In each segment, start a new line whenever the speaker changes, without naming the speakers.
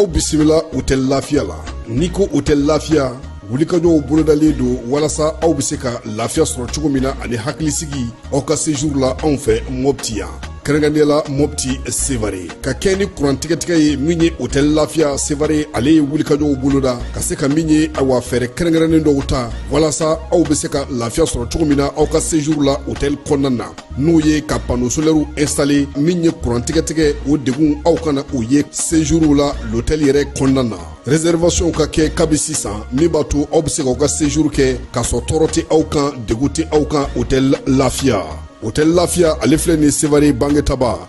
aw bisimila hotɛli lafiya la n'i ko hotɛli lafiya wulikajɔw bolodalen don walasa aw bɛ se ka lafiya sɔrɔ cogo min na ani hakilisigi aw ka sejuru la anw fɛ mɔpti yan kɛrɛnkɛrɛnnenya la mɔpti sevare ka kɛɲɛ ni kurantigɛtigɛ ye min ye hotɛli lafiya sevare ale ye wulikajɔw boloda ka se ka min ye awa fɛɛrɛ kɛrɛnkɛrɛnnen dɔw ta walasa aw be se ka lafiya sɔrɔ cogo min na aw ka sejuru la hotɛli kɔnɔna na n'o ye ka pano solɛriw ɛnstale min ye kurantigɛtigɛ o degun aw kana o ye sejuru la lotɛli yɛrɛ kɔnɔna na reservation ka kɛ kabi sisan min b'a to aw be se k'aw ka sejuru kɛ k'a sɔrɔ tɔɔrɔ tɛ aw kan degun tɛ aw kan hotɛli lafiya hotɛli lafiya ale filɛ nin sevare bangetaba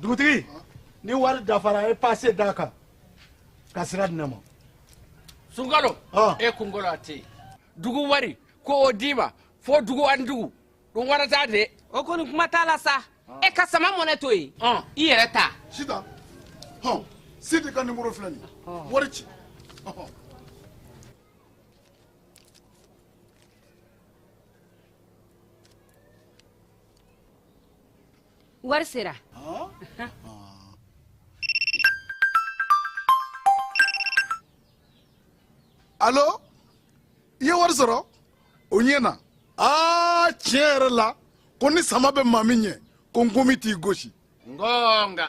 dugutigi ni wari dafara ye pase d'a kan ka sira di ne ma sunkalo
e kunkolo a tɛ yen dugu wari ko o d'i ma fo dugu ani dugu dun wɛrɛ t'a de o kɔni kuma t'a la
sa e ka sama mɔnɛ to yen i yɛrɛ ta sita
hɔn sidi ka nimoro filɛ nin wari ci
wari sera
alo i ye wari sɔrɔ o ɲɛna aa tiɲɛ yɛrɛ la ko ni sama bɛ maa min ɲɛ ko nkomi t'i gosi ngonga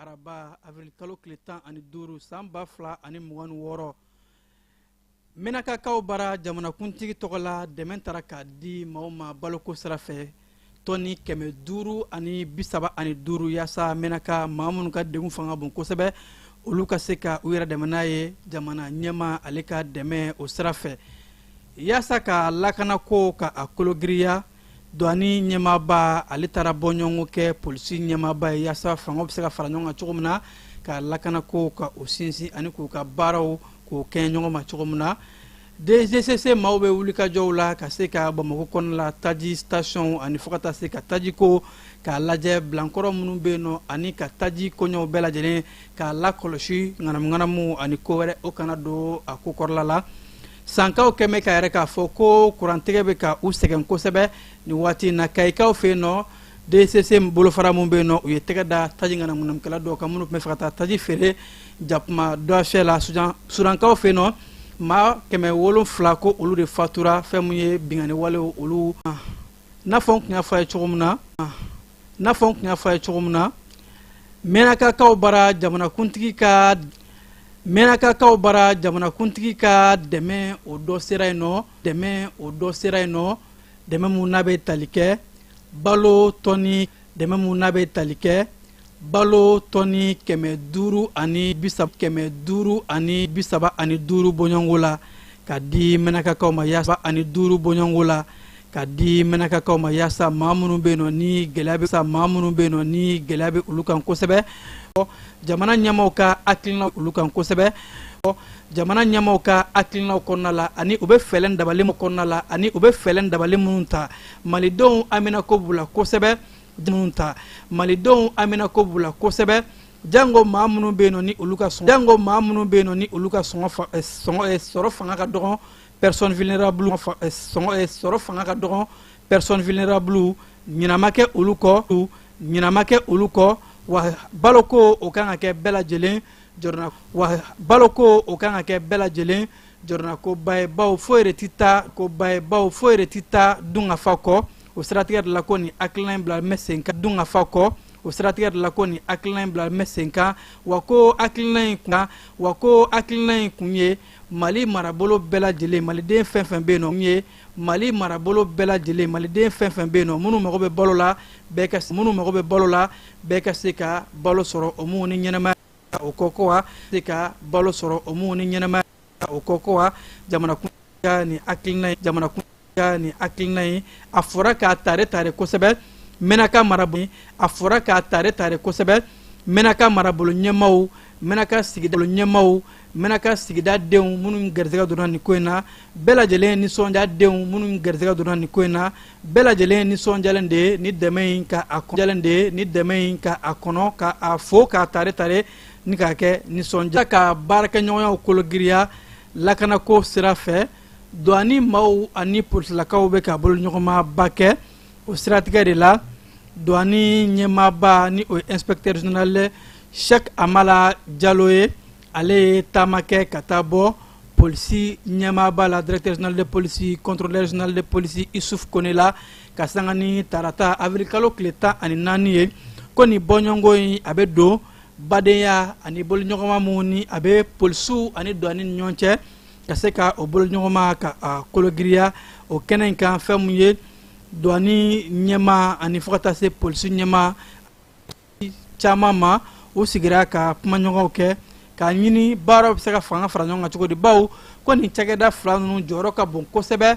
araba avril kalo tile tan ani duuru san ba fila ani mugan ni wɔɔrɔ menakakaw bara jamanakuntigi tɔgɔ la dɛmɛ tara k'a di maaw ma baloko sira fɛ tɔni kɛmɛ duuru ani bisaba ani duuru yaasa menaka maa minnu ka degun fanga bon kosɛbɛ olu ka se ka u yɛrɛ dɛmɛ n'a ye jamana ɲɛmaa ale ka dɛmɛ o sira fɛ yaasa ka lakanako ka a kologiriya duwani ɲɛmaaba ale taara bɔɲɔgɔn kɛ polisi ɲɛmaaba ye yaasa fangaw bɛ se ka fara ɲɔgɔn kan cogo min na ka lakanako ka o sinsin ani k'u ka baaraw k'o kɛɲɛ ɲɔgɔn ma cogo min na dgcc maaw bɛ wulikajɔw la ka se ka bamakɔ kɔnɔna la taji sitasiɔnw ani fo ka taa se ka tajiko k'a lajɛ bilankɔrɔ minnu bɛ yen nɔ ani ka taji koɲɛw bɛɛ lajɛlen k'a lakɔlɔsi ŋanamuŋanamu ani ko wɛrɛ o kana don a ko kɔrɔla la sankaw kɛn bɛ k'a yira k'a fɔ ko kurantigɛ bɛ ka u sɛgɛn kosɛbɛ nin waati in na kayikaw fɛ yen nɔ DCC bolofara min bɛ yen nɔ u ye tɛgɛ da taji ŋanamuŋanamukɛla dɔw kan minnu tun bɛ fɛ ka taa taji feere jakuma dɔfɛ la sudankaw fɛ yen nɔ maa kɛmɛ wolonfila ko olu de fatura fɛn min ye binkanni walew olu n'a fɔ n tun y'a fɔ a ye cogo min na n'a fɔ n tun y'a fɔ a ye cogo min na mɛnakakaw bara jamanakuntigi ka mɛnakakaw bara jamanakuntigi ka dɛmɛ o dɔ sera yen nɔ dɛmɛ o dɔ sera yen nɔ dɛmɛ mun n'a bɛ tali kɛ balo tɔni dɛmɛ mun n'a bɛ tali kɛ balo tɔni kɛmɛ duuru ani bisa kɛmɛ duuru ani bisaba ani duuru bɔɲɔgɔnko la ka di mɛnɛkakaw ma yaasa ani duuru bɔɲɔgɔnko la ka di mɛnɛkakaw ma yaasa maa minnu bɛ yen nɔ ni gɛlɛya bɛ sa maa minnu bɛ yen nɔ ni gɛlɛya bɛ olu kan kosɛbɛ jamana ɲɛmaaw ka hakilina olu kan kosɛbɛ jamana ɲɛmaaw ka hakilinaw kɔnɔna la ani u bɛ fɛɛrɛ dabali min kɔnɔna la ani u bɛ fɛɛrɛ dabali minnu ta malidenw haminanko b'u la kosɛbɛ minnu ta malidenw haminanko b'u la kosɛbɛ jango maa minnu bɛ yen nɔ ni olu ka sɔngɔ jango maa minnu bɛ yen nɔ ni olu ka sɔngɔ fa eh, sɔngɔ eh, sɔrɔ fanga ka dɔgɔn personne vulnérable fa eh, sɔngɔ eh, sɔrɔ fanga ka dɔgɔn personne vulnérable ɲina ma kɛ olu kɔ ɲina ma kɛ olu kɔ wa baloko o kan ka kɛ bɛɛ lajɛlen jɔrɔna wa baloko o kan ka kɛ bɛɛ lajɛlen jɔrɔnakoba ye bawo foyi yɛrɛ ti taa koba ye bawo foyi yɛrɛ ti taa dunkafa kɔ o siratigɛ de la ko nin hakilina in bila bɛ sen kan dunkafa kɔ o siratigɛ de la ko nin hakilina in bila bɛ sen kan wa ko hakilina in kun wa ko hakilina in kun ye mali marabolo bɛɛ lajɛlen maliden fɛn fɛn bɛ yen nɔ ye mali marabolo bɛɛ lajɛlen maliden fɛn fɛn bɛ yen nɔ minnu mago bɛ balo la bɛɛ ka minnu mago bɛ balo la bɛɛ ka se ka balo sɔrɔ o min ni ɲɛnamaya o kɔ ko wa se ka balo sɔrɔ o min ni ɲɛnamaya o kɔ ko wa jamanakuntigi ka nin hakilina in jamanakuntigi ka nin hakilina in a fora k'a tare tare kosɛbɛ mɛnaka marabolo a fora k'a tare tare kosɛbɛ mɛnaka marabolo ɲɛmaaw mɛnaka sigida ɲɛmaaw mɛnaka sigida denw minnu garisɛgɛ donna nin ko in na bɛɛ lajɛlen nisɔndiya denw minnu garisɛgɛ donna nin ko in na bɛɛ lajɛlen nisɔndiyalen de ye ni dɛmɛ in ka a kɔnɔ de ye ni dɛmɛ in ka a kɔnɔ ka a fo k'a tare tare ni k'a kɛ nisɔndiya ka baarakɛɲɔgɔnyaw kologiriya lakanako sira fɛ duwani maaw ani polisilakaw bɛ ka boloɲɔgɔnmaba kɛ o siratigɛ de la duwani ɲɛmaaba ni o ye inspecteur général sɛk amala jalo ye ale ye taama kɛ ka taa bɔ polisi ɲɛmaaba la directeur général de police contrôleur général de police isuf kɔne la ka sanga ni tarata awirikalo tile tan ani naani ye ko nin bɔɲɔgɔnko in a bɛ don badenya ani boloɲɔgɔnma min ni a bɛ polisiw ani duwani ni ɲɔgɔn cɛ ka se ka o boloɲɔgɔnma ka a kologiriya o kɛnɛ in kan fɛn min ye duwani ɲɛmaa ani fo ka taa se polisi ɲɛmaa caman ma u sigira ka kumaɲɔgɔnw kɛ k'a ɲini baaraw bɛ se ka fanga fara ɲɔgɔn kan cogo di bawo ko nin cakɛda fila ninnu jɔyɔrɔ ka bon kosɛbɛ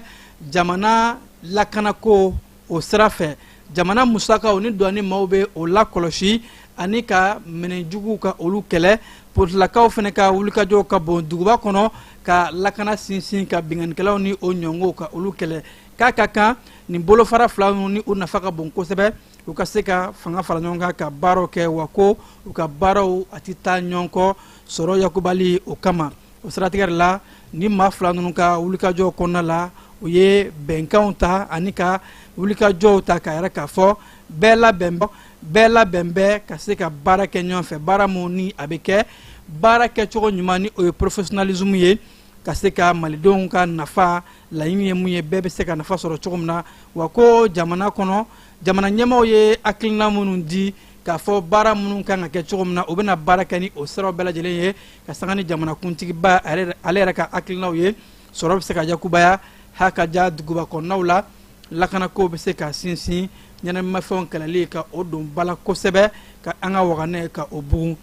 jamana lakanako o sira fɛ jamana musakaw ni duwani maaw bɛ o lakɔlɔsi ani ka minɛn juguw ka olu kɛlɛ polisilakaw fana ka wulikajɔw ka bon duguba kɔnɔ ka lakana sinsin ka binkannikɛlaw ni o ɲɔgɔnw ka olu kɛlɛ k'a ka kan nin bolofara fila ninnu ni u nafa ka bon kosɛbɛ u ka se ka fanga fara ɲɔgɔn kan ka baaraw kɛ wa ko u ka baaraw a tɛ taa ɲɔgɔn kɔ sɔrɔ yakubali o kama o siratigɛ de la ni maa fila ninnu ka wulikajɔ kɔnɔna la u ye bɛnkanw ta ani ka wulikajɔw ta k'a yira k'a fɔ bɛɛ labɛn bɛɛ labɛn bɛ ka se ka baara kɛ ɲɔgɔn fɛ baara min ni a bɛ kɛ baara kɛcogo ɲuman ni o ye professionnalisme ye ka se ka malidenw ka nafa laɲini ye mun ye bɛɛ bɛ se ka nafa sɔrɔ cogo min na wa ko jamana kɔnɔ jamana ɲɛmaaw ye hakilina minnu di k'a fɔ baara minnu kan ka kɛ cogo min na u bɛna baara kɛ ni o siraw bɛɛ lajɛlen ye ka sanga ni jamanakuntigiba ale yɛrɛ ka hakilinaw ye sɔrɔ bɛ se ka yakubaya ha ka ja duguba kɔnɔnaw la lakanako bɛ se ka sinsin ɲɛnaminifɛnw kɛlɛli ka o don ba la kosɛbɛ ka an ka wagandɛ ka o bugun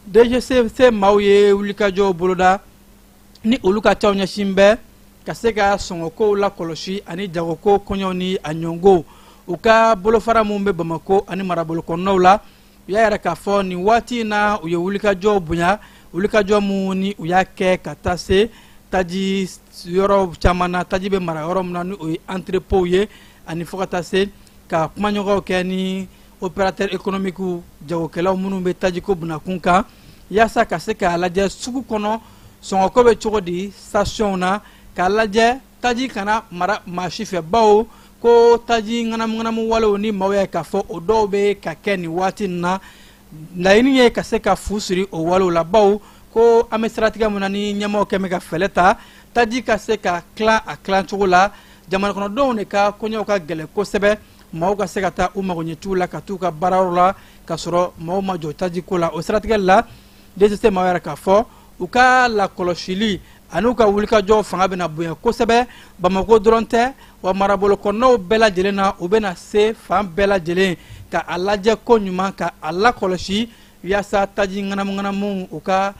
dgcc maaw ye wulikajɔw boloda ni olu ka caw ɲɛsin bɛ ka se ka sɔngɔkow lakɔlɔsi ani jagoko koɲɛw ni a ɲɔgɔnw u ka bolofara minnu bɛ bamako ani marabolo kɔnɔnaw la u y'a yira k'a fɔ nin waati in na u ye wulikajɔw bonya wulikajɔ minnu ni u y'a kɛ ka taa se taji yɔrɔ caman na taji bɛ mara yɔrɔ min na ni o ye entrepôtw ye ani fo ka taa se ka kumaɲɔgɔnw kɛ ni opérateur économique jagokɛlaw minnu bɛ tajiko bunakun kan yaasa ka se k'a lajɛ sugu kɔnɔ sɔngɔko bɛ cogo di sitasiyɔnw na k'a lajɛ taji kana mara maa si fɛ bawo ko taji ŋanamuŋanamu walew ni maaw y'a ye k'a fɔ o dɔw bɛ ka kɛ nin waati nin na laɲini ye ka se ka fu siri o walew la bawo ko an bɛ siratigɛ min na ni ɲɛmaaw kɛlen bɛ ka fɛɛrɛ ta taji ka se ka tilan a tilancogo la jamanakɔnɔdenw de ka koɲɛw ka gɛlɛn kosɛbɛ maaw ka se ka taa u magoɲɛciw la ka taa u ka baarayɔrɔ la ka sɔrɔ maaw ma jɔ tajiko la o siratigɛ la dgcc maaw y'a yira k'a fɔ u ka lakɔlɔsili ani u ka wulikajɔ fanga bɛna bonya kosɛbɛ bamako dɔrɔn tɛ wa marabolo kɔnɔnaw bɛɛ lajɛlen na u bɛna se fan bɛɛ lajɛlen ka a lajɛ koɲuman ka a lakɔlɔsi yaasa taji ŋanamuŋanamuw u ka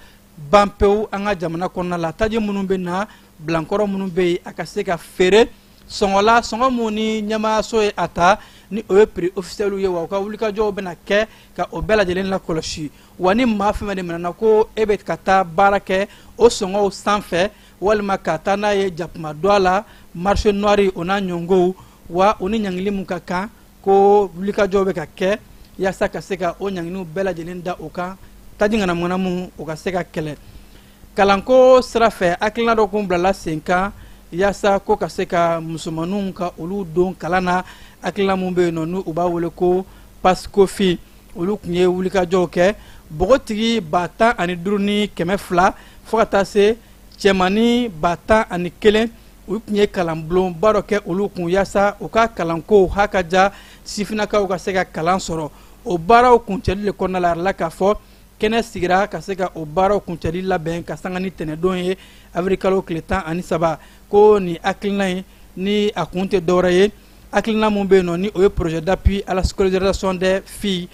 ban pewu an ka jamana kɔnɔna la taji minnu bɛ na bilankɔrɔ minnu bɛ yen a ka se ka feere sɔngɔ la sɔngɔ mun ni ɲɛmaayaso ye a ta ni o ye piri ofisiyɛliw ye wa u ka wulikajɔw bɛna kɛ ka o bɛɛ lajɛlen lakɔlɔsi wa ni maa fɛn fɛn de minɛna ko e bɛ ka taa baara kɛ o sɔngɔw sanfɛ walima ka taa n'a ye jakuma dɔ a la marché noir o n'a ɲɔngow wa o ni ɲangili min ka kan ko wulikajɔw bɛ ka kɛ yaasa ka se ka o ɲanginiw bɛɛ lajɛlen da o kan taji ŋanamuŋanamu o ka se ka kɛlɛ kalanko sira fɛ hakilina dɔ kun bilala sen kan yaasa ko ka se ka musomaninw ka olu don kalan na hakilina min bɛ yen nɔ n'u b'a wele ko pasikofi olu tun ye wulikajɔw kɛ npogotigi ba tan ani duuru ni kɛmɛ fila fo ka taa se cɛmannin ba tan ani kelen u tun ye kalanbulonba dɔ kɛ olu kun yaasa u ka kalankow ha ka ja sifinnakaw ka se ka kalan sɔrɔ o baaraw kuncɛli de kɔnɔna la a yirala k'a fɔ kɛnɛ sigira ka se ka o baaraw kuncɛli labɛn ka sanga ni tɛnɛdon ye awirikalo tile tan ani saba ko nin hakilina in ni a kun tɛ dɔwɛrɛ ye hakilina min bɛ yen nɔ ni o ye projet d'appui à la scolarisation des filles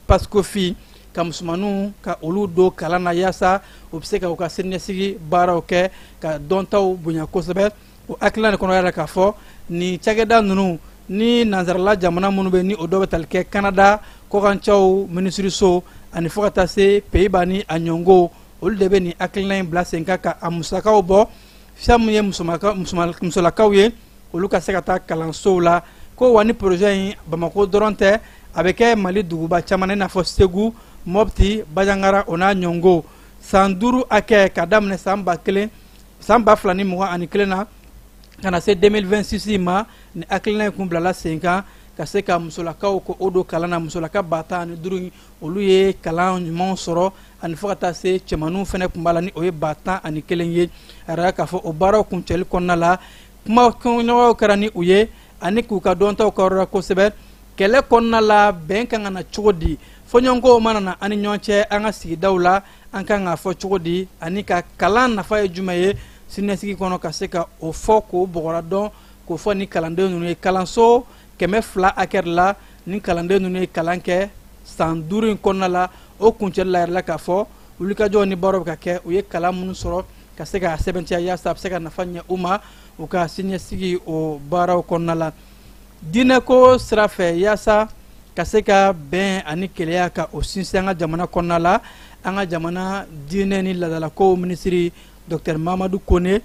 PASCOFI ka musomaninw ka olu don kalan na yaasa u bɛ se ka u ka siniɲɛsigi baaraw kɛ ka dɔntaw bonya kosɛbɛ o hakilina de kɔnɔ y'a yira k'a fɔ nin cakɛda ninnu ni nansarala jamana minnu bɛ ni o dɔ bɛ tali kɛ kanada kɔkancɛw minisiriso ani fo ka taa se peyiba ni a ɲɔngo olu de bɛ nin hakilina in bila sen kan ka a musakaw bɔ fɛn min ye musolakaw ye olu ka se ka taa kalansow la ko wa ni porozɛ in bamako dɔrɔn tɛ a bɛ kɛ mali duguba caman na i n'a fɔ segu mɔpti bajangara o n'a ɲɔngo san duuru hakɛ ka daminɛ san ba kelen san ba fila ni mugan ani kelen na ka na se 2026 ma nin hakilina in kun bilala sen kan ka se ka musolakaw k'o don kalan na musolaka ba tan ani duuru olu ye kalan ɲumanw sɔrɔ ani fo ka taa se cɛmaninw fana tun b'a la ni o ye ba tan ani kelen ye a yira k'a fɔ o baaraw kuncɛli kɔnɔna la kumaɲɔgɔnyaw kɛra ni u ye ani k'u ka dɔntaw k'a yira u la kosɛbɛ kɛlɛ kɔnɔna la bɛn kan ka na cogo di fɔɲɔgɔnkɔw mana na an ni ɲɔgɔn cɛ an ka sigidaw la an kan k'a fɔ cogo di ani ka kalan nafa ye jumɛn ye siniɲɛsigi kɔnɔ ka se ka o fɔ k'o bɔgɔra dɔn k'o fɔ ni kalanden ninnu ye kalanso kɛmɛ fila hakɛ la ni kalanden ninnu ye kalan kɛ san duuru in kɔnɔna la o kuncɛli la yirala k'a fɔ wulikajɔw ni baaraw bɛ ka kɛ u ye kalan minnu sɔrɔ ka se ka a sɛbɛntiya yaasa a bɛ se ka nafa ɲɛ u ma u ka siniɲɛsigi o baaraw kɔnɔna la diinɛko sira fɛ yaasa ka se ka bɛn ani kelenya ka o sinsin an ka jamana kɔnɔna la an ka jamana diinɛ ni laadalakow minisiri dɔktɛr mamadu kone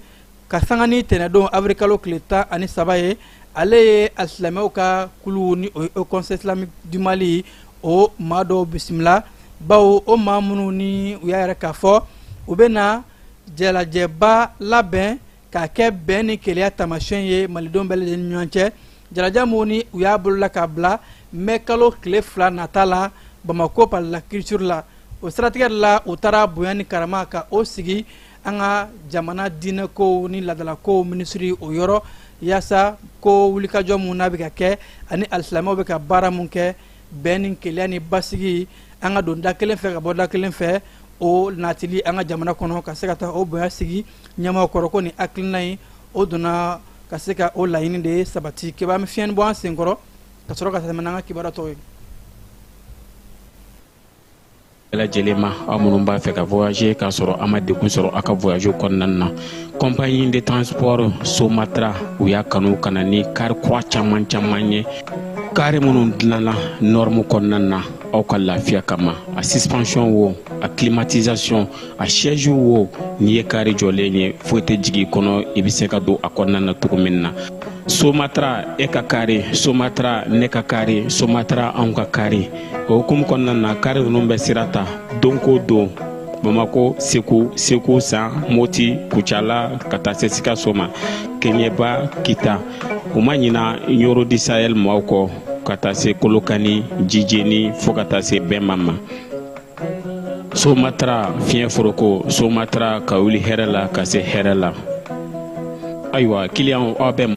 ka sanga ni tɛnɛdon awirikalo tile tan ani saba ye ale ye alisilamɛw ka kulu ni o ye haut conseil islamique du mali o maa dɔw bisimila bawo o maa minnu ni u y'a yira k'a fɔ u bɛna jɛlajɛba labɛn k'a kɛ bɛn ni kelenya taamasiyɛn ye malidenw bɛɛ lajɛlen ni ɲɔgɔn cɛ jalaja minnu ni u y'a boloda k'a bila mɛ kalo tile fila nata la bamako palais de la culture la o siratigɛ de la u taara bonya ni karama ka o sigi an ka jamana diinɛkow ni ladalakow minisiri o yɔrɔ yaasa ko wulikajɔ min n'a bɛ ka kɛ ani alisilamɛw bɛ ka baara min kɛ bɛn ni kelenya ni basigi an ka don da kelen fɛ ka bɔ da kelen fɛ o natili an ka jamana kɔnɔ ka se ka taa o bonya sigi ɲɛmaaw kɔrɔ ko nin hakilina in o donna ka se ka o laɲini de sabati kibaru an bɛ fiɲɛni bɔ an sen kɔrɔ ka sɔrɔ ka tɛmɛ n'an ka kibaru tɔw ye
lajɛlen ma aw minnu b'a fɛ ka voyager k'a sɔrɔ a ma degun sɔrɔ a ka voyage kɔnɔna na compagnie de transport somatra u y'a kanu ka na ni kari kura caman caman ye kari minnu dilanna nɔrɔmu kɔnɔna na aw ka lafiya kama a suspension wo a climatisation a siège wo n'i ye kari jɔlen ye foyi tɛ jigin kɔnɔ i bɛ se ka don a kɔnɔna na cogo min na somatra e ka kari somatra ne ka kari somatra anw ka kari o hukumu kɔnɔna na kari ninnu bɛ sira ta don ko don bamakɔ segu segu san moti kucala ka taa se sikaso ma keɲɛba kita u ma ɲina nioro du sahel maaw kɔ ka taa se kolokani jijeni fo ka taa se bema ma somatra fiɲɛ foroko somatra ka wuli hɛrɛ la ka se hɛrɛ la ayiwa kiliyanw aw bɛ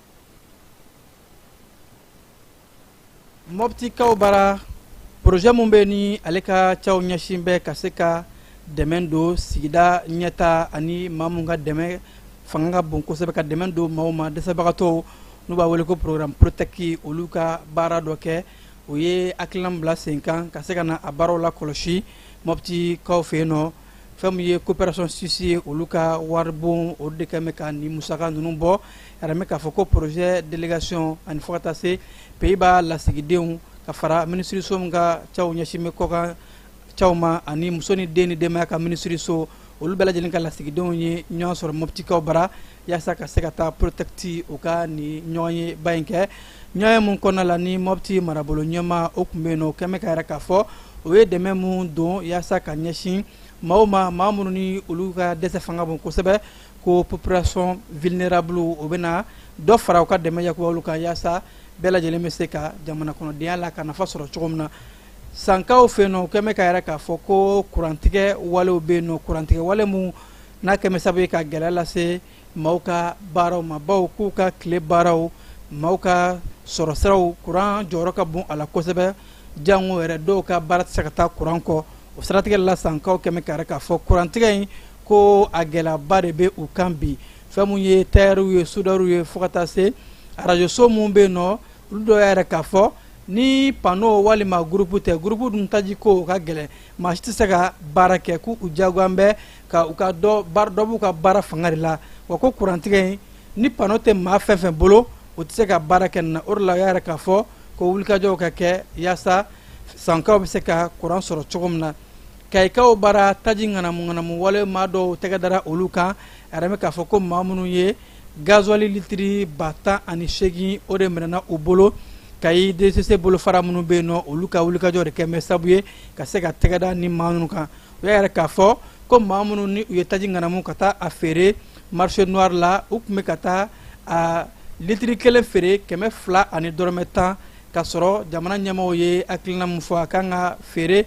mɔpti kaw bara porozɛ min bɛ ni ale ka cɛw ɲɛsin bɛ ka se ka dɛmɛ don sigida ɲɛtaa ani maa minnu ka dɛmɛ fanga ka bon kosɛbɛ ka dɛmɛ don maaw ma dɛsɛbagatɔw n'u b'a wele ko programme protɛki olu ka baara dɔ kɛ o ye hakilina bila sen kan ka se ka na a baaraw lakɔlɔsi mɔpti kaw fɛ yen nɔ fɛn min ye coopération suisse ye olu ka waribon o de kɛn bɛ ka nin musaka ninnu bɔ yiralen bɛ k'a fɔ ko projet délégation ani fo ka taa se pays-bas lasigidenw ka fara minisiriso min ka cɛw ɲɛsin bɛ kɔkan cɛw ma ani muso ni den ni denbaya ka minisiriso olu bɛɛ lajɛlen ka lasigidenw ye ɲɔgɔn sɔrɔ moptikaw bara yaasa ka se ka taa protɛki u ka nin ɲɔgɔnyeba in kɛ ɲɔgɔnye min kɔnɔna la ni mɔpti marabolo ɲɛmaa o tun bɛ yen o kɛn bɛ k'a yira k'a fɔ o ye dɛmɛ min don yaasa ka ɲɛsin maaw ma maa minnu ni olu ka dɛsɛ fanga bon kosɛbɛ ko population vulnérable o bɛ na dɔ fara u ka dɛmɛ yaku olu kan yaasa bɛɛ lajɛlen bɛ se ka jamana kɔnɔ denya la ka nafa sɔrɔ cogo min na sankaw fɛ yen nɔ kɛn bɛ k'a yira k'a fɔ ko kurantigɛ walew bɛ yen nɔ kurantigɛ wale minnu n'a kɛmɛ sabu ye ka gɛlɛya lase maaw ka baaraw ma baw k'u ka tile baaraw maaw ka sɔrɔ siraw kuran jɔyɔrɔ ka bon a la kosɛbɛ jango yɛrɛ dɔw ka baara tɛ se ka taa kuran kɔ o siratigɛ la sankaw kɛmɛ k'a yira k'a fɔ kurantigɛ in ko a gɛlɛyaba de bɛ u kan bi fɛn minnu ye tayɛriw ye sudariw ye fo ka taa se arajoso minnu bɛ yen nɔ olu dɔw y'a yira k'a fɔ ni pano walima gurupu tɛ gurupu dun taji ko o ka gɛlɛn maa si tɛ se ka baara kɛ k'u u diyagoyan bɛ ka u ka dɔ dɔ b'u ka baara fanga de la wa ko kurantigɛ in ni pano tɛ maa fɛn fɛn bolo u tɛ se ka baara kɛ nin na o de la u y'a yira k'a fɔ ko wulikajɔw ka kɛ yaasa sankaw bɛ se ka kuran sɔrɔ cogo min na kayikaw bara taji ŋanamuŋanamu wale maa dɔw tɛgɛ dara olu kan a yiralen bɛ k'a fɔ ko maa minnu ye gazuwali litiri ba tan ani seegin o de minɛna u bolo kayi dcc bolofara minnu bɛ yen nɔ olu ka wulikajɔ de kɛmɛ sabu ye ka se ka tɛgɛda ni maa ninnu kan u y'a yira k'a fɔ ko maa minnu ni u ye taji ŋanamu ka taa a feere marché noir la u tun bɛ ka taa a litiri kelen feere kɛmɛ fila ani dɔrɔmɛ tan k'a sɔrɔ jamana ɲɛmɔgɔw ye hakilina min fɔ a kan ka feere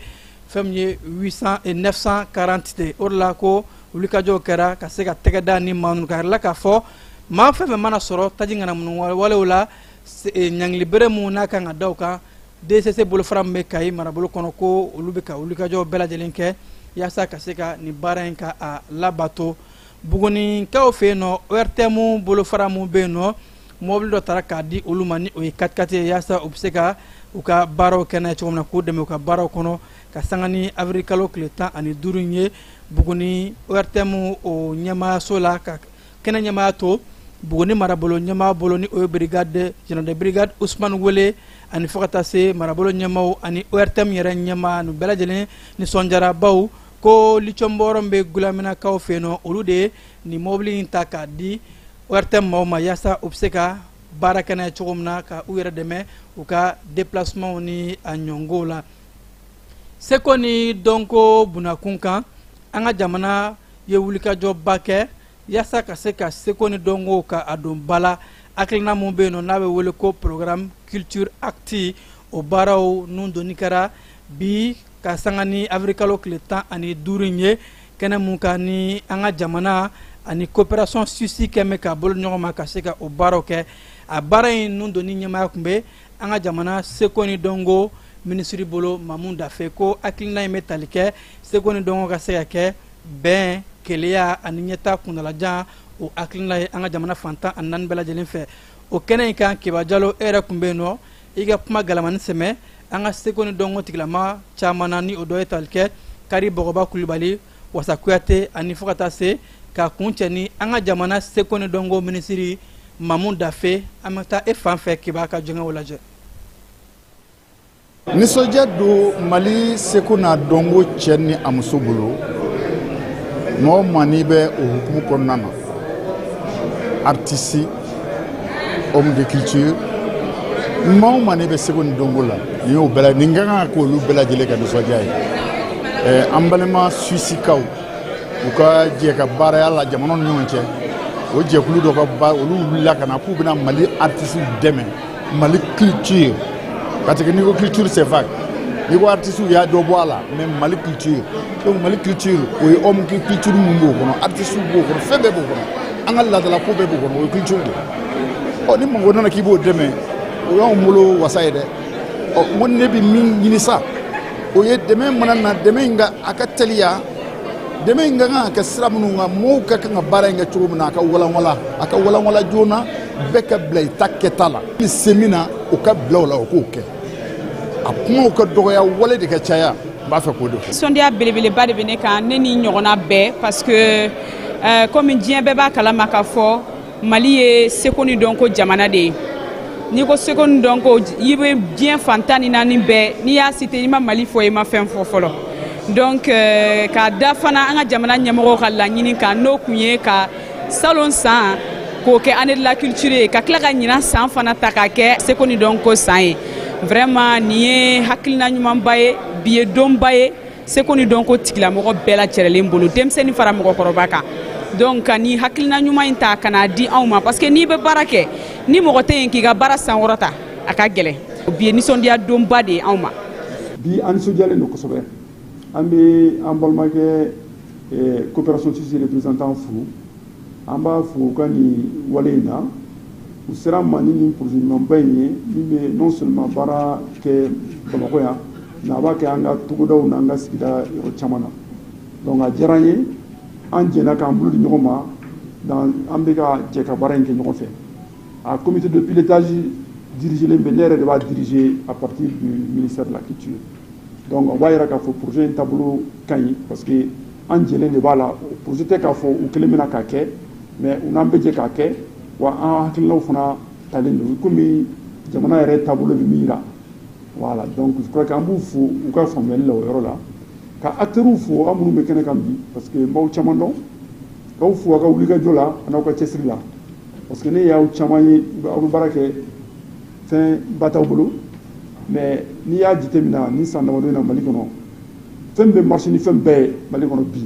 fɛn min ye 800 et 940 de o de la ko wulikajɔw kɛra ka se ka tɛgɛ da ni maa ninnu kan a yirala k'a fɔ maa fɛn fɛn mana sɔrɔ taji ŋanamu walew la ɲangili bɛrɛ min n'a kan ka da u kan DCC bolofara min bɛ Kayi marabolo kɔnɔ ko olu bɛ ka wulikajɔ bɛɛ lajɛlen kɛ yaasa ka se ka nin baara in ka a labato Buguninkaw fɛ yen nɔ ORTM bolofara min bɛ yen nɔ mɔbili dɔ tara k'a di olu ma ni o ye katikati ye yaasa u bɛ se ka u ka baaraw kɛ n'a ye cogo min na k'u dɛmɛ u ka baaraw kɔnɔ ka sanga ni awirilikalo tile tan ani duuru in ye Buguni ORTM o ɲɛmaayaso la ka kɛnɛ ɲɛmaaya to buguni marabolo ɲɛmaa bolo ni o ye brigade general de brigade usman wele ani fo ka taa se marabolo ɲɛmaaw ani ortm yɛrɛ ɲɛmaa nu bɛɛ lajɛlen nisɔndiyara baw ko lithium bɔyɔrɔ min bɛ gulaminakaw fɛ yen nɔ olu de ye nin mɔbili in ta k'a di ortm maaw ma yaasa u bɛ se ka baara kɛ n'a ye cogo min na ka u yɛrɛ dɛmɛ u ka deplacement ni a ɲɔgɔnw la seko ni dɔnko bunda kun kan an ka jamana ye wulikajɔba kɛ yaasa ka se ka seko ni dɔnko ka a don ba la hakilina min bɛ yen nɔ n'a bɛ wele ko programme culture acti o baaraw nun donni kɛra bi ka sanga ni awirilikalo tile tan ani duuru in ye kɛnɛ min kan ni an ka jamana ani coopération suisse kɛmɛ ka bolo ɲɔgɔn ma ka se ka o baaraw kɛ a baara in nun donni ɲɛmaaya tun bɛ an ka jamana seko ni dɔnko minisiri bolo mamu dafe ko hakilina in bɛ tali kɛ seko ni dɔnko ka se ka kɛ bɛn kelenya ani ɲɛtaa kuntaalajan o hakilina ye an ka jamana fan tan ani naani bɛɛ lajɛlen fɛ o kɛnɛ in kan keba jalo e yɛrɛ tun bɛ yen nɔ i ka kuma galamani sɛmɛ an ka seko ni dɔnko tigilama caman na ni o dɔ ye tali kɛ kari bɔgɔba kulubali wasa kuyate ani fo ka taa se ka kuncɛ ni an ka jamana seko ni dɔnko minisiri mamu dafe an bɛ taa e fan fɛ kibaa ka jɛ k'o lajɛ
nisɔndiya don mali seko n'a dɔnko cɛ ni a muso bolo mɔgɔ maa n'i bɛ o hukumu kɔnɔna na artiste homme de culture maa o maa n'i bɛ seko ni dɔnko la nin y'o bɛɛ nin ka kan ka k'olu bɛɛ lajɛlen ka nisɔndiya ye eh, an balima suisikaw u ka jɛ ka baaraya la jamanaw ni ɲɔgɔn cɛ o jɛkulu dɔ ka ba olu wulila ka na k'u bɛna mali artisiw dɛmɛ mali culture parce que n'i ko culture c'est vague n'i ko artiste i y'a dɔ bɔ a la mais mali culture donc mali culture o ye homme de culture min b'o kɔnɔ artiste b'o kɔnɔ fɛn bɛɛ b'o kɔnɔ an ka laadala ko bɛɛ b'o kɔnɔ o ye culture de ye ɔ ni mɔgɔ nana k'i b'o dɛmɛ o y'anw bolo wasa ye dɛ ɔ n ko ne bɛ min ɲini sa o ye dɛmɛ mana na dɛmɛ in ka a ka teliya dɛmɛ in ka kan ka kɛ sira minnu kan mɔgɔw ka kan ka baara in kɛ cogo min na a ka walanwalan a ka walanwalan joona bɛɛ ka bila i ta kɛta la n'i se min na o ka bila o la o k'o kɛ a kumaw ka dɔgɔya wale de ka caya n b'a fɛ k'o de fɔ nisɔndiya belebeleba de bɛ ne kan ne ni ɲɔgɔnna bɛɛ parce que euh, komi diɲɛ bɛɛ b'a kalama k'a fɔ mali ye seko ni dɔnko jamana de ye n'i ko seko ni dɔnko i bɛ diɲɛ fan tan ni naani bɛɛ n'i y'a cité i ma mali fɔ i ma fɛn fɔ fɔlɔ donc euh, k'a da fana an ka jamana ɲɛmɔgɔw ka laɲini kan n'o tun ye ka salon san k'o kɛ année de la culture ye ka tila ka ɲinan san fana ta k'a kɛ seko ni dɔnko san ye vraiment nin ye hakilina ɲumanba ye bi ye donba ye seko ni dɔnko tigilamɔgɔ bɛɛ lajɛrɛlen bolo denmisɛnnin fara mɔgɔkɔrɔba kan donc ka nin hakilina ɲuman in ta ka n'a di anw ma parce que n'i bɛ baara kɛ ni mɔgɔ tɛ yen k'i ka baara sankɔrɔta a ka gɛlɛn bi ye nisɔndiya donba de ye anw ma bi an
nisɔndiyalen don kosɛbɛ an bɛ an balimakɛ eh, coopération suisse représentant fo an b'a fo u ka nin wale in na u sera ma ni nin projet ɲumanba in ye min bɛ non seulement baara kɛ bamakɔ yan mais a b'a kɛ an ka togodaw n'an ka sigida yɔrɔ caman na donc a diyara an ye an jɛna k'an bolo di ɲɔgɔn ma an bɛ ka jɛ ka baara in kɛ ɲɔgɔn fɛ a comité de pilotage dirigelen bɛ ne yɛrɛ de b'a diriger à partir du ministère de la culture Donc o b'a jira k'a fɔ projet in taabolo ka ɲi parce que an jɛlen de b'a la projet tɛ k'a fɔ u kelen bɛ na k'a kɛ mais u n'an bɛ jɛ k'a kɛ wa an hakilinaw fana talen don komi jamana yɛrɛ taabolo bɛ min jira voilà donc je crois que an b'u fo u ka faamuyali la o yɔrɔ la ka acteurs fo aw minnu bɛ kɛnɛ kan bi parce que n b'aw caman dɔn k'aw fo aw ka wulikajɔ la an'aw ka cɛsiri la parce que ne y'aw caman ye aw bɛ baara kɛ fɛnba t'aw bolo mais n'i y'a jateminɛ nin san damadɔ in na mali kɔnɔ fɛn bɛ marcher ni fɛn bɛɛ ye mali kɔnɔ bi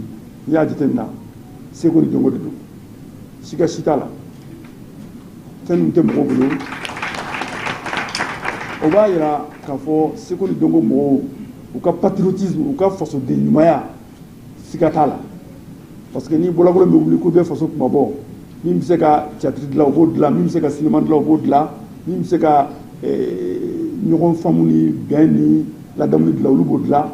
n'i y'a jateminɛ seko ni dɔnko de don siga si t'a la fɛn min tɛ mɔgɔw bolo o b'a yira k'a fɔ seko ni dɔnko mɔgɔw u ka patriotisme u ka fasoden ɲumanya siga t'a la parce que ni bɔlɔbolo bɛ wuli k'u bɛ faso kunmabɔ min bɛ se ka théâtre dilan o b'o dilan min bɛ se ka sinima dilan o b'o dilan min bɛ se ka eh, ɲɔgɔn faamu ni bɛn ni ladamu dilan olu b'o dilan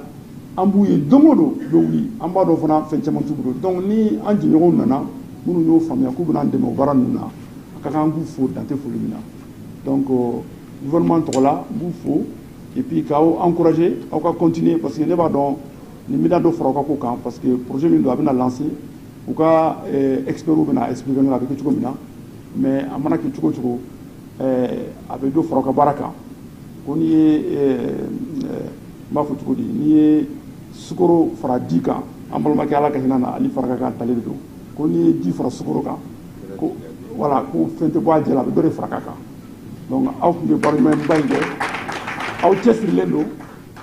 an b'u ye don o don u bɛ wuli an b'a dɔn fana fɛn caman t'u bolo donc ni an jɛɲɔgɔnw nana minnu y'o faamuya k'u bɛna an dɛmɛ o baara ninnu na a ka kan an k'u fo dan tɛ foli min na donc euh, gouvernement tɔgɔ la n b'u fo et puis k'aw encourager aw ka continuer parce que ne b'a dɔn Nin bɛna dɔ fara aw ka ko kan parce que projet min don a bɛna lancer u ka experts bɛna expliquer a bɛ kɛ cogo min na mais a mana kɛ cogo o cogo a bɛ dɔ fara aw ka baara kan ko n'i ye n b'a fɔ cogo di n'i ye sukaro fara di kan an balimakɛ Ala ka hinɛ a la Ali Farka ka ntalen de don ko n'i ye di fara sukaro kan ko voilà ko fɛn tɛ bɔ a jɛ la a bɛ dɔ de fara a kan donc aw tun bɛ baara ɲumanba in kɛ aw cɛsirilen don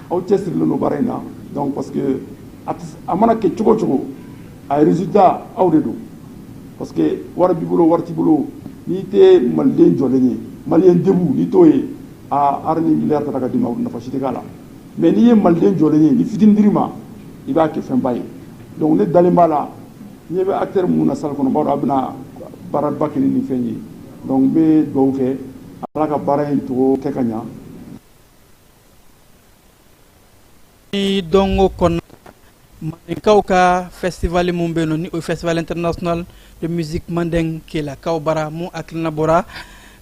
aw cɛsirilen don baara in na donc parce que a mana kɛ cogo o cogo a résultat aw de don parce que wari b'i bolo wari t'i bolo n'i tɛ maliden jɔlen ye malien debout n'i t'o ye hali ni miliyari tara ka d'i ma nafa si tɛ k'a la mais n'i ye maliden jɔlen ye ni fitini dir'i ma i b'a kɛ fɛnba ye donc ne dalen b'a la ɲɛ bɛ acteur minnu na salle kɔnɔ b'a dɔn a bɛna baaraba kɛ ni nin fɛn ye donc n bɛ dugawu kɛ ala ka baara in togo kɛ ka ɲa
ni dɔnko kɔnɔ mandenkaw ka fɛstivali min bɛ yen nɔ ni o ye festival international de musique mandingue kelakaw bara mun hakilina bɔra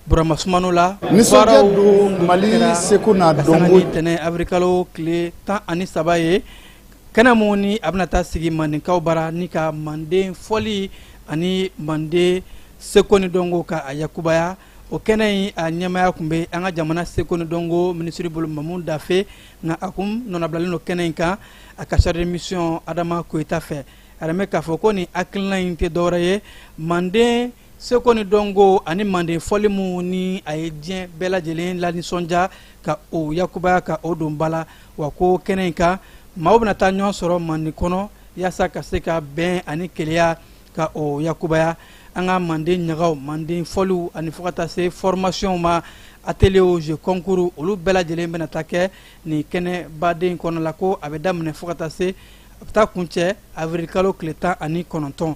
burama sumano la nisɔndiya
don mali seko n'a dɔnko ntɛnɛn
awirilikalo tile tan ani saba ye kɛnɛ mun ni a bɛna taa sigi mandenkaw bara ni ka manden fɔli ani manden seko ni dɔnko ka a yakubaya o kɛnɛ in a ɲɛmaaya tun bɛ an ka jamana seko ni dɔnko minisiri bolo mamu dafe nka a kun nɔnabilalen don kɛnɛ in kan a ka chargé de mission adama koyita fɛ a yɛrɛ bɛ k'a fɔ ko nin hakilina in tɛ dɔwɛrɛ ye manden seko ni dɔnko ani manden fɔli mun ni a ye diɲɛ bɛɛ lajɛlen lanisɔndiya ka o yakubaya ka o don ba la wa ko kɛnɛ in kan maaw bɛna taa ɲɔgɔn sɔrɔ manden kɔnɔ yaasa ka se ka bɛn ani kelenya ka o yakubaya an ka manden ɲagaw manden fɔliw ani fo ka taa se fɔrmasiyɔnw ma ateliyew je kɔnkuru olu bɛɛ lajɛlen bɛna taa kɛ nin kɛnɛba de kɔnɔna la ko a bɛ daminɛ fo ka taa se a bɛ taa kuncɛ awirilkalo tile tan ani kɔnɔntɔn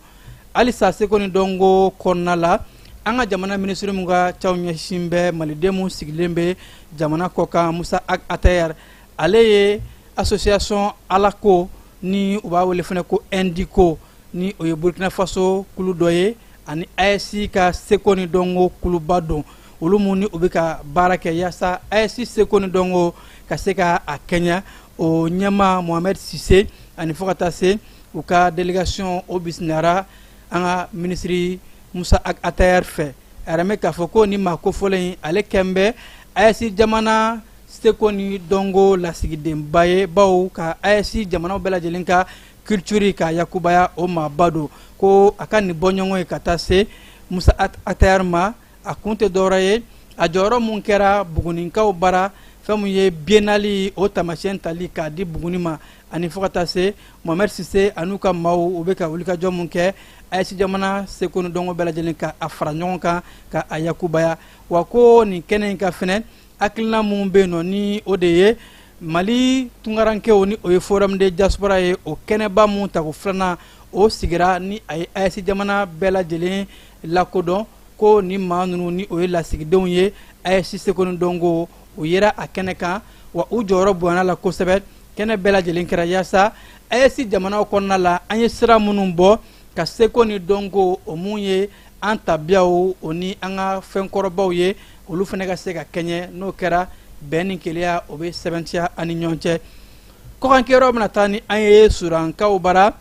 halisa seko ni dɔnko kɔnɔna la an ka jamana minisiri min ka caw ɲɛsin bɛ maliden minnu sigilen bɛ jamana kɔkan musa ag atayar ale ye association alako ni u b'a wele fana ko indiko ni o ye burkina faso kulu dɔ ye ani aes ka seko ni dɔnko kuluba don olu minnu ni u bɛ ka baara kɛ yaasa aes seko ni dɔnko ka se ka a kɛɲɛ o ɲɛma mohamɛd sise ani fo ka taa se u ka delegasiyɔn o bisimilala an ka minisiri musa ag atayar fɛ a yiran bɛ k'a fɔ ko nin maa kofɔlen in ale kɛn bɛ aes jamana seko ni dɔnko lasigidenba ye bawo ka aes jamanaw bɛɛ lajɛlen ka culture ka yakubaya o maaba don ko a ka nin bɔɲɔgɔnye ka taa se musa atayar ma a kun tɛ dɔwɛrɛ ye a jɔyɔrɔ mun kɛra buguninkaw bara fɛn min ye biennale o taamasiyɛn tali k'a di buguni ma ani fo ka taa se mohamɛd sise an'u ka maaw u bɛ ka wulikajɔ mun kɛ aes jamana seko ni dɔnko bɛɛ lajɛlen ka a fara ɲɔgɔn kan ka a yakubaya wa ko nin kɛnɛ in kan fɛnɛ hakilina minnu bɛ yen nɔ ni o de ye mali tunkarankew ni o ye forum de diaspora ye o kɛnɛba min tako filanan o sigira ni a ye aes jamana bɛɛ lajɛlen lakodɔn ko nin maa ninnu ni o ye lasigidenw ye aes seko ni dɔnko o yera a kɛnɛ kan wa u jɔyɔrɔ bonyana la kosɛbɛ kɛnɛ bɛɛ lajɛlen kɛra yaasa aes jamanaw kɔnɔna la an ye sira minnu bɔ ka seko ni dɔnko o mun ye an tabiyaw o ni an ka fɛnkɔrɔbaw ye olu fana ka se ka kɛɲɛ n'o kɛra bɛn ni keleya o bɛ sɛbɛntiya an ni ɲɔgɔn cɛ kɔkankɛyɔrɔ bɛna taa ni an ye sudankaw bara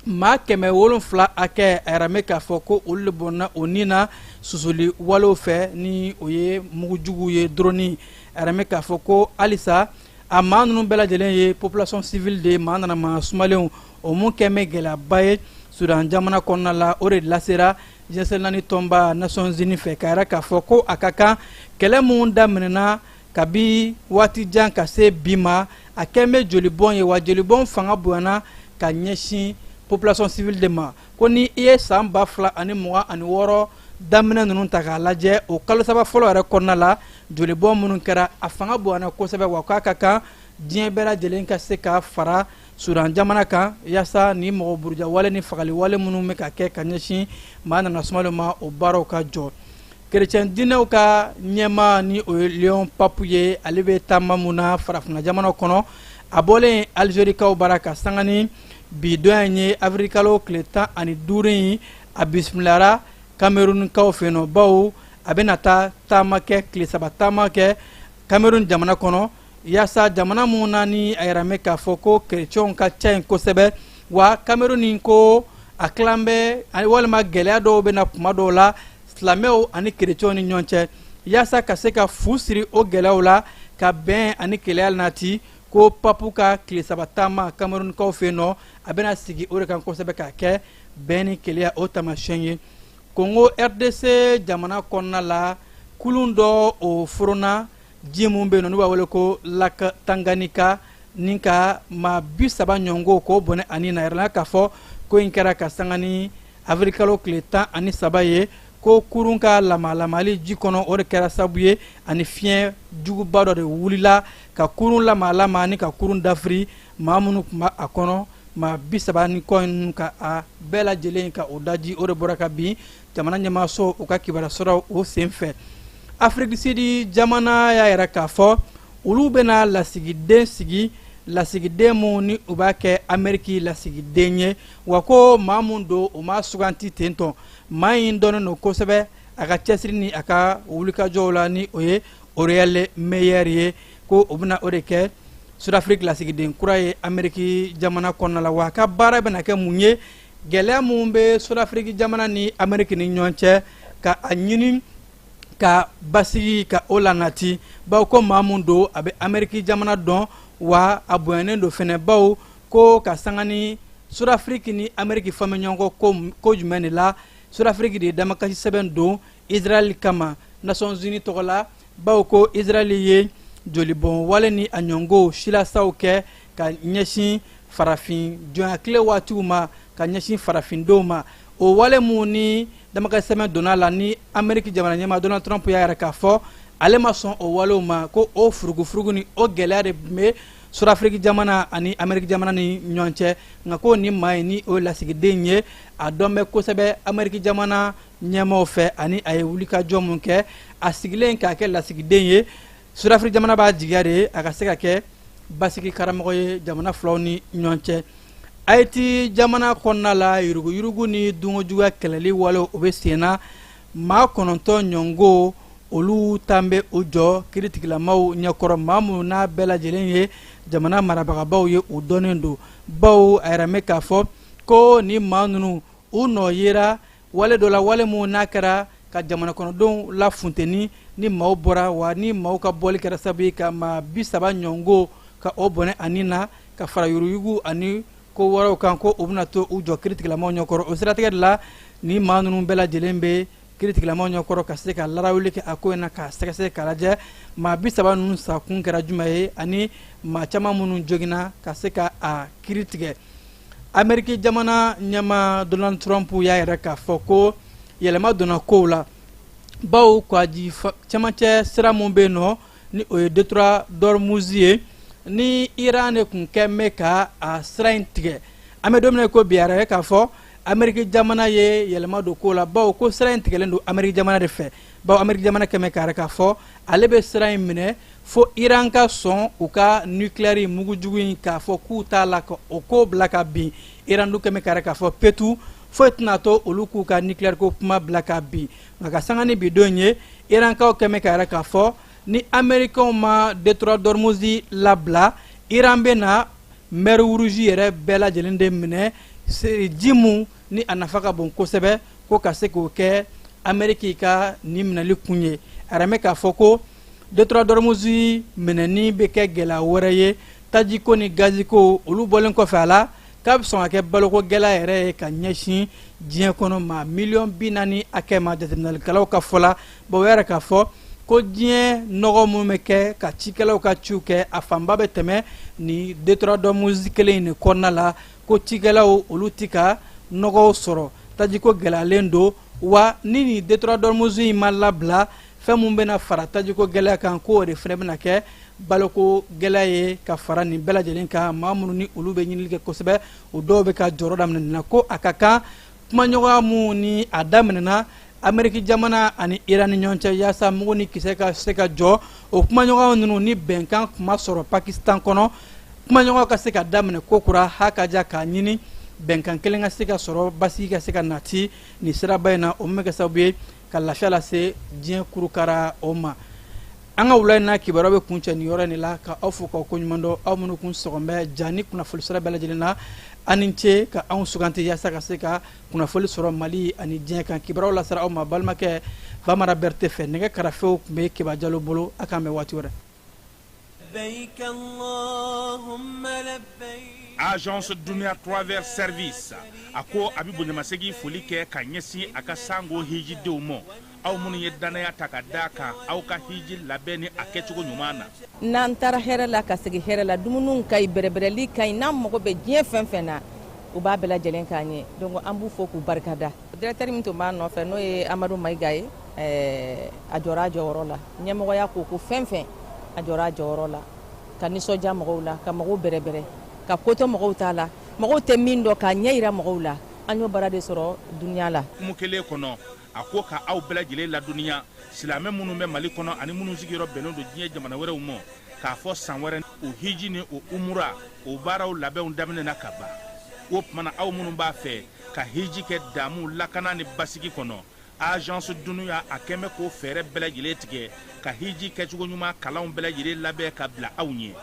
maa kɛmɛ wolonfila hakɛ a yiran bɛ k'a fɔ ko olu de bɔnna o ni na susuli walew fɛ ni o ye mugujuguw ye doroni a yiran bɛ k'a fɔ ko halisa a maa ninnu bɛɛ lajɛlen ye population civile de ye maa nana maa sumalenw o mun kɛn bɛ gɛlɛyaba ye sudan jamana kɔnɔna la o de lasera diɲɛ seleke naani tɔnba nasɔnzini fɛ k'a yira k'a fɔ ko a ka kan kɛlɛ minnu daminɛna kabi waati jan ka se bi ma a kɛn bɛ jolibɔn ye wa jolibɔn fanga bonyana ka ɲɛsin population civile de ma ko ni i ye san ba fila ani mugan ani wɔɔrɔ daminɛ ninnu ta k'a lajɛ o kalo saba fɔlɔ yɛrɛ kɔnɔna la jolibɔn minnu kɛra a fanga bonyana kosɛbɛ wa k'a ka kan diɲɛ bɛɛ lajɛlen ka se ka fara sudan jamana kan yaasa ni mɔgɔ burujawale ni fagaliwale minnu bɛ ka kɛ ka ɲɛsin maa nana sumalen ma o baaraw ka jɔ kerecɛn diinɛw ka ɲɛmaa ni o ye leon papu ye ale bɛ taama mun na farafinna jamana kɔnɔ a bɔlen alizerikaw bara ka sanga ni bi don in ye avirikalo tile tan ani duuru in a bisimilara kamerunkaw fɛ yen nɔ bawo a bɛna taa taama kɛ tile saba taama kɛ kamerun jamana kɔnɔ yaasa jamana mun na ni a yiralen bɛ k'a fɔ ko kerecɛnw ka ca yen kosɛbɛ wa kameruni ko a tilan bɛ walima gɛlɛya dɔw bɛ na tuma dɔw la silamɛw ani kerecɛnw ni ɲɔgɔn cɛ yaasa ka se ka fu siri o gɛlɛyaw la ka bɛn ani kelenya lanati ko papu ka tile saba taama kamerunkaw fɛ yen nɔ a bɛna sigi o de kan kosɛbɛ k'a kɛ bɛn ni kelenya o taamasiyɛn ye kongo rdc jamana kɔnɔna la kulun dɔ o foronna ji mun bɛ yen nɔ n'u b'a wele ko lak tanganika ni ka maa bi saba ɲɔgɔn k'o bɔnɛ a ni na a yirala k'a fɔ ko in kɛra ka sanga ni avirikalo tile tan ani saba ye ko kurun ka lamaalamali ji kɔnɔ o de kɛra sabu ye ani fiɲɛ juguba dɔ de wulila ka kurun lamaalama ni ka kurun dafiri maa minnu tun b'a a kɔnɔ maa bi saba ni kɔ ninnu ka a bɛɛ lajɛlen ka o daji o de bɔra ka bin jamana ɲɛmaaso u ka kibaruya sɔrɔ o senfɛ afiriki di sidi jamana y'a yira k'a fɔ olu bɛna lasigiden sigi lasigiden mun ni u b'a kɛ ameriki lasigiden ye wa ko maa min don o ma suganti ten tɔn maa in dɔnnen don kosɛbɛ a ka cɛsiri ni a ka wulikajɔw la ni o ye roelf meyer ye ko o bɛna o de kɛ sudafiriki lasigiden kura ye ameriki jamana kɔnɔna la wa a ka baara bɛna kɛ mun ye gɛlɛya mun bɛ sudafiriki jamana ni ameriki ni ɲɔgɔn cɛ ka a ɲini ka basigi ka o lanati bawo ko maa min don a bɛ ameriki jamana dɔn wa a bonyanen don fɛnɛ bawo ko ka sanga ni sudafiriki ni ameriki fɔlen bɛ ɲɔgɔn kɔ ko jumɛn de la sudafiriki de ye damakasi sɛbɛn don israɛl kama nations unies tɔgɔ la bawo ko israɛli ye jolibɔn wale ni a ɲɔngow silasaw kɛ ka ɲɛsin farafin jɔnyatile waatiw ma ka ɲɛsin farafindenw ma o wale mun ni damakasi sɛbɛn donna la ni ameriki jamana ɲɛmaa donald trump y'a yira k'a fɔ ale ma sɔn o walew ma ko o furugufurugu ni o gɛlɛya de bɛ sudafiriki jamana ani ameriki jamana ni ɲɔgɔn cɛ nka ko nin maa in ni o ye lasigiden ye a dɔn bɛ kosɛbɛ ameriki jamana ɲɛmaaw fɛ ani a ye wulikajɔ min kɛ a sigilen k'a kɛ lasigiden ye sudafiriki jamana b'a jigiya de a ka se ka kɛ basigi karamɔgɔ ye jamana filaw ni ɲɔgɔn cɛ ayiti jamana kɔnɔna la yuruguyurugu ni dunkojuguya kɛlɛli walew o bɛ sen na maa kɔnɔntɔn ɲɔngo olu taalen bɛ u jɔ kiritigilamaw ɲɛkɔrɔ maa minnu n'a bɛɛ lajɛlen ye jamana marabagabaw ye u dɔnnen don bawo a yira bɛ k'a fɔ ko nin maa ninnu u nɔ yera wale dɔ la wale minnu n'a kɛra ka jamanakɔnɔdenw lafunteni ni maaw bɔra wa ni maaw ka bɔli kɛra sabu ye ka maa bi saba ɲɔngo ka o bɔnɛ a ni na ka fara yuruguyurugu ani ko wɛrɛw kan ko o bɛna to u jɔ kiritigilamaw ɲɛkɔrɔ o siratigɛ de la ni maa ninnu bɛɛ lajɛlen bɛ kiritigilamaw ɲɛkɔrɔ ka se ka larawuli kɛ a ko in na k'a sɛgɛsɛgɛ k'a lajɛ maa bi saba ninnu sakun kɛra jumɛn ye ani maa caman minnu joginna ka se ka a kiri tigɛ ameriki jamana ɲɛmaa donald trump y'a yira k'a fɔ ko yɛlɛma donna kow la bawo kɔgɔji cɛmancɛ sira min bɛ yen nɔ ni o ye détroit d'ormuz ye ni iran de tun kɛ bɛ ka a sira in tigɛ an bɛ don min na ko bi a yira k'a fɔ ameriki jamana ye yɛlɛma don kow la bawo ko sira in tigɛlen don ameriki jamana de fɛ bawo ameriki jamana kɛ bɛ k'a yira k'a fɔ ale bɛ sira in minɛ fo iran ka sɔn u ka nukilɛri mugu jugu in k'a fɔ k'u t'a la ka o ko bila ka bin iran dun kɛ bɛ k'a yira k'a fɔ petu foyi tɛna to olu k'u ka nukilɛri ko kuma bila ka bin nka ka sanga ni bi don ye irankaw kɛ bɛ k'a yira k'a fɔ ni amerikɛnw ma détroit d'ormuz labila iran bɛna mer rouge yɛrɛ bɛɛ lajɛlen de minɛ ji min ni a nafa ka bon kosɛbɛ ko ka se k'o kɛ ameriki ka nin minɛli kun ye a yira bɛ k'a fɔ ko détroit d'ormuz minɛni bɛ kɛ gɛlɛya wɛrɛ ye tajiko ni gaziko olu bɔlen kɔfɛ a la k'a bɛ sɔn ka kɛ baloko gɛlɛya yɛrɛ ye ka ɲɛsin diɲɛ kɔnɔ maa miliyɔn bi naani hakɛ ma jateminɛlikɛlaw ka fɔ la bawo a yira k'a fɔ ko diɲɛ nɔgɔ min bɛ kɛ ka cikɛlaw ka ciw kɛ a fanba bɛ tɛmɛ nin détroit d'ormuz kelen in de kɔnɔna la ko cikɛlaw olu tɛ ka nɔgɔw sɔrɔ tajiko gɛlɛyalen don wa ni nin détroit d'ormuz in ma labila fɛn min bɛna fara tajiko gɛlɛya kan ko o de fana bɛna kɛ baloko gɛlɛya ye ka fara nin bɛɛ lajɛlen kan maa minnu ni olu bɛ ɲinili kɛ kosɛbɛ o dɔw bɛ ka jɔrɔ daminɛ nin na ko a ka kan kumaɲɔgɔnya min ni a daminɛna ameriki jamana ani iran ni ɲɔgɔn cɛ yaasa mugu ni kisɛ ka se ka jɔ o kumaɲɔgɔnya ninnu ni bɛnkan tun ma sɔrɔ pakistan kɔnɔ kumaɲɔgɔnya ka se ka daminɛ kokura ha ka ja k'a ɲini bɛnkan kelen ka se ka sɔrɔ basigi ka se ka nati nin siraba in na o min bɛ kɛ sababu ye ka lafiya lase diɲɛ kurukara o ma an ka wula in na kibaruya bɛ kuncɛ nin yɔrɔ in de la ka aw fo k'aw koɲuman dɔn aw minnu kun sɔgɔn bɛ ja ni kunnafoli sira bɛɛ lajɛlen na a ni ce ka anw suganti yaasa ka se ka kunnafoli sɔrɔ mali ani diɲɛ kan kibaruyaw lasera aw ma balimakɛ bamara bɛrite fɛ nɛgɛ karafew tun bɛ keba jalo bolo a k'an bɛn waati wɛrɛ
agence dunia travel service a ko a bɛ bonyamasegin foli kɛ ka ɲɛsin a ka sango hijidenw ma aw minnu ye dannaya ta ka d'a kan aw ka hiji labɛn ni a kɛcogo ɲuman na n'an taara
hɛrɛ la ka segin hɛrɛ la dumuniw ka ɲi bɛrɛbɛrɛli ka ɲi n'an mago bɛ diɲɛ fɛn fɛn na u b'a bɛɛ lajɛlen k'an ye donc an b'u fo k'u barika da directeur min tun b'a nɔfɛ n'o ye amadu mayiga ye a jɔra a jɔyɔrɔ la ɲɛmɔgɔya ko ko fɛn fɛn a jɔra a jɔyɔrɔ la ka nisɔndiya mɔgɔw la ka mɔgɔw bɛrɛbɛrɛ ka ko to mɔgɔw ta la mɔgɔw tɛ min dɔn k'a ɲɛ yira mɔgɔw la an y'o baara de sɔrɔ dunya la kuma kelen
kɔnɔ a ko ka aw bɛɛ lajɛlen ladɔnniya silamɛ minnu bɛ mali kɔnɔ ani minnu sigiyɔrɔ bɛnnen don diɲɛ jamana wɛrɛw ma k'a fɔ san wɛrɛ o hiji ni o umura o baaraw labɛnw daminɛna ka ban o tuma na aw minnu b'a fɛ ka hiji kɛ damu lakana ni basigi kɔnɔ agence dunuya a k'an bɛ k'o fɛɛrɛ bɛɛ lajɛlen tigɛ ka hiji kɛcogo ɲuman kalanw bɛɛ lajɛlen labɛn ka bila aw ɲɛ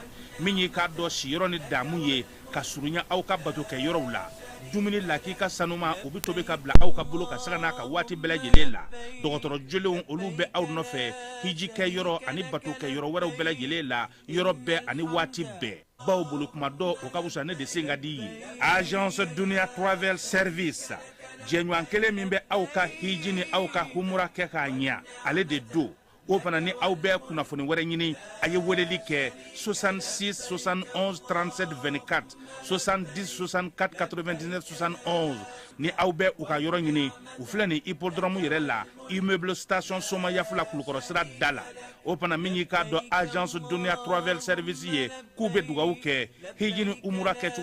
min y'i k'a dɔn siyɔrɔ ni damu ye ka surunya aw ka bato kɛ yɔrɔw la dumuni lakika sanuman o bɛ tobi ka bila aw ka bolo kan sanga n'a ka waati bɛɛ lajɛlen la dɔgɔtɔrɔ jolenw olu bɛ aw nɔfɛ hiji kɛ yɔrɔ ani bato kɛ yɔrɔ wɛrɛw bɛɛ lajɛlen la yɔrɔ bɛɛ ani waati bɛɛ baw bolo kuma dɔn o ka wusa ne de sen ka di ye agence dunia travel service jɛɲɔgɔn kelen min bɛ aw ka hiji ni aw ka humura kɛ k'a ɲɛ ale de don o fana ni aw bɛ kunnafoni wɛrɛ ɲini a ye weleli kɛ 66 71 37 24 70 64 99 71 ni aw bɛ u ka yɔrɔ ɲini u filɛ nin hippodrome yɛrɛ la immeuble station somayaf la kulukɔrɔ sira da la o fana min y'i k'a dɔn agence dunia travel service ye k'u bɛ dugawu kɛ hiji ni umura kɛcogo